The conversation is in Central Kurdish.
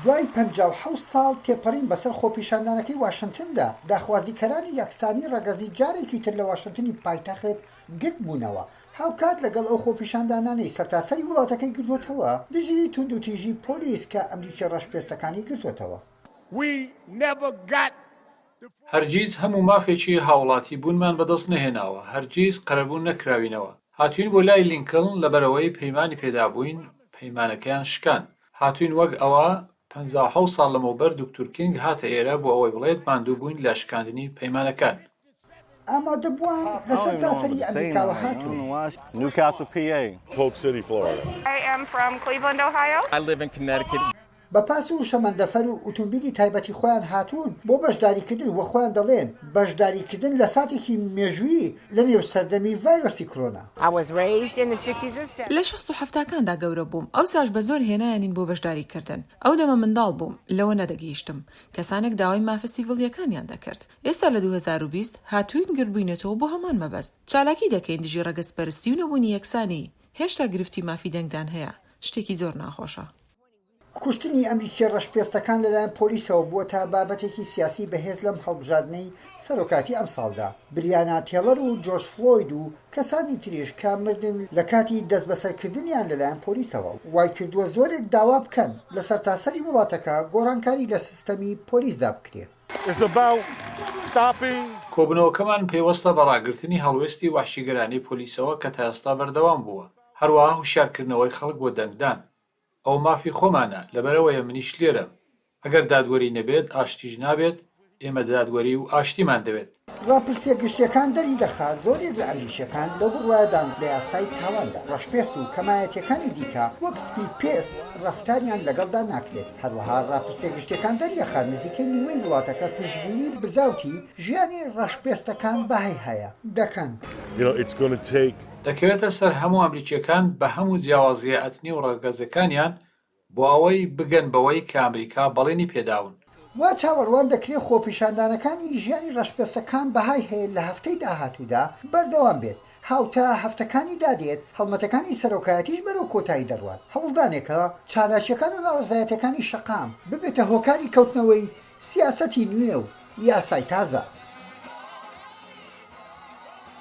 دوای پەنجا و حەوت ساڵ تێپەڕین بەسەر خۆپیشاندانەکەی واشنتندا، داخوازیکەرانی یەکسانی ڕەگەزی جارێکی تر لە واشنتنی پایتەخت گردبوونەوە، هاوکات لەگەڵ ئەو خۆپیشاندانانەی سەرتاسەری وڵاتەکەی گرتووەتەوە دژی توندوتیژی پۆلیس کە ئەمریکی ڕەشپێستەکانی گرتووەتەوە. We never got هەرگیز هەموو مافێکی هاوڵاتی بوونمان بەدەست نەهێناوە، هەرگیز قەرەبوو نەکراوینەوە، هاتووین بۆ لای لینکلن لەبەرئەوەی پەیمانی پێدابووین پەیمانەکەیان شکاند، هاتووین وەک ئەوە پەنجا و حەوت ساڵ لەمەوبەر دکتور کینگ هاتە ئێرە بۆ ئەوەی بڵێت ماندووبووین لە شکاندنی پەیمانەکان. ئامادەبووان لەسەرتاسەری ئەمریکاوە هاتوون. Newcastle PA. Polk City Florida. بە پاس و شەمەندەفەر و ئوتومبیلی تایبەتی خۆیان هاتوون بۆ بەشداریکردن و خۆیان دەڵێن بەشداریکردن لە ساتێکی مێژوویی لە نێو سەردەمی ڤایرۆسی کرۆنا. لە شەست و حەفتاکاندا گەورە بووم، ئەوساش بە زۆر هێنایانین بۆ بەشداریکردن. ئەو دەمە منداڵ بووم، لەوە نەدەگەیشتم. کەسانێک داوای مافە سیڤڵییەکانیان دەکرد. ئێستا لە دوو هەزار و بیست هاتووین گردبووینەتەوە بۆ هەمان مەبەست. چالاکی دەکەین دژی ڕەگەزپەرستی و نەبوونی یەکسانی. هێشتا گرفتی مافی دەنگدان هەیە. شتێکی زۆر ناخۆشە. کوشتنی ئەمریکییە ڕەشپێستەکان لەلایەن پۆلیسەوە بووەتە بابەتێکی سیاسی بەهێز لەم هەڵبژاردنەی سەرۆکاتی ئەمساڵدا. بریانا تێڵەر و جۆرج فلۆید و کەسانی تریش کە مردن لە کاتی دەستبەسەرکردنیان لەلایەن پۆلیسەوە، وایکردووە زۆرێک داوا بکەن لە سەرتاسەری وڵاتەکە گۆڕانکاری لە سیستەمی پۆلیسدا بکرێت. کۆبوونەوەکەمان پەیوەستە بە ڕاگرتنی هەڵوێستی وەحشیگەرانەی پۆلیسەوە کە تا ئێستا بەردەوام بووە، هەروەها هۆشیارکردنەوەی خەڵک بۆ دەنگدان. ئەوە مافی خۆمانە لەبەرئەوەیە منیش لێرەم، ئەگەر دادوەری نەبێت ئاشتیش نابێت، ئێمە دادوەری و ئاشتیمان دەوێت. ڕاپرسییە گشتییەکان دەریدەخات زۆرێک لە ئەمریکییەکان لەو بڕوایەدان لە یاسای تاواندا، ڕەشپێست و کەمایەتییەکانی دیکە وەک سپیپێست ڕەفتاریان لەگەڵدا ناکرێت، هەروەها ڕاپرسییە گشتییەکان دەریدەخات نزیکەی نیوەی وڵاتەکە پشتگیری بزاوتی ژیانی ڕەشپێستەکان بەهای هەیە، دەکەن. دەکەوێتە سەر هەموو ئەمریکیەکان بە هەموو جیاوازیە ئەتنی و ڕەگەزەکانیان بۆ ئەوەی بگەن بەوەی کە ئەمریکا بەڵێنی پێداون. وا چاوەڕوان دەکرێت خۆپیشاندانەکانی ژیانی ڕەشپێستەکان بەهای هەیە لە هەفتەی داهاتوودا بەردەوام بێت، هاوتا هەفتەکانی دادێت، هەڵمەتەکانی سەرۆکایەتیش بەرەو کۆتایی دەڕوات، هەوڵدانێکە چالاکیەکان و ناڕەزایەتیەکانی شەقام ببێتە هۆکاری کەوتنەوەی سیاسەتی نوێ و یاسای تازە.